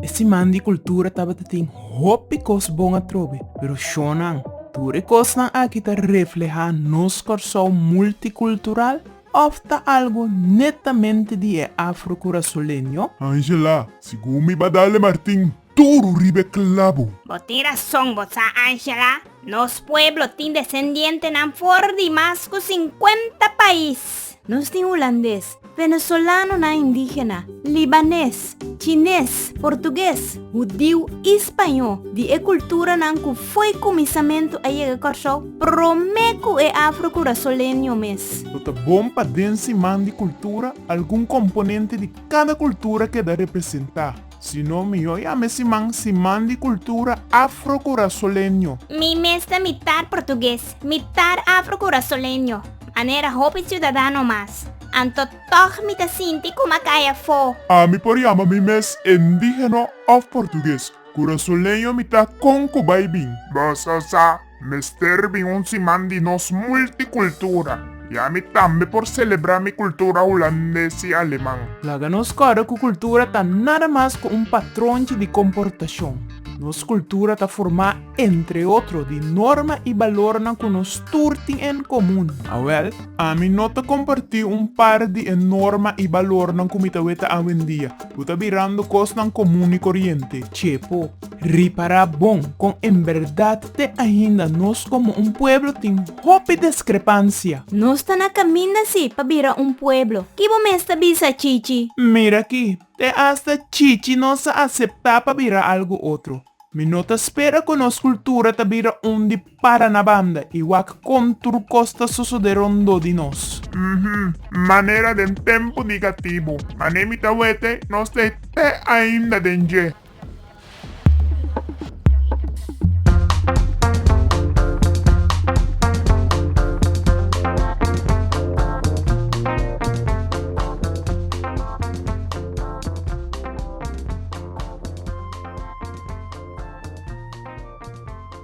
E siman di kultura tabata tin hopi kos bon atrobe, pero shonnan, tur e kosnan aki ta reflehá nos Kòrsou multikultural òf ta algu netamente di e afro-kurasoleño? Angela, Sigun mi Badale Martin, turu riba e clabu. Bo tin rason bo sa Angela, nos pueblo tin desendientenan for di mas cu cincuenta pais. Nos tin Hulandes, Venezolanonan indígena, Libanes, Chines, Portugues, Hudiu y Spaño di e culturanan cu fo'i cuminsamentu a yega Corsou prome cu e Afro Curasoleño mes. Lo ta bon pa den Siman di Cultura algun componente di cada cultura keda representa. Si no mihó ya mester man si man di kultura afrokurasoleño. Mi mes ta mitar portugues, mitar afrokurasoleño, manera hopi siudadano mas. Anto tòg mi ta sinti ku ma kai afó. Mi por yama mi mes endígeno òf portugues. Kurasoleño mi ta kon ku bai bin. Bo sa sa Mester bin un siman di nos multicultura, ya mi tambe por celebra mi cultura Hulandes y Aleman. Laga nos corda cu cultura ta nada mas cu un patronchi di comportacion. Nos cultura ta forma, entre otro, di norma y balornan cu nos tur tin en comun. Awel, ami no ta comparti un par di e norma y balornan cu mi ta weta awendia, cu ta birando cosnan comun y coriente. Chepo. Ripará bon kon en bèrdat te ainda nos komo un pueblo tin hopi deskrepansia. Nos ta na kaminda si pa bira un pueblo. Ki bo mes ta bisa, Chichi? Mira aki, te asta Chichi nos a aseptá pa bira algu otro. Mi no ta spera ku nos kultura ta bira un di Para na banda i wak kon tur kos ta sosodé rondó di nos. Uhm, manera den tempu nigatibu. Mané mi ta wete, nos ta e te ainda den dje.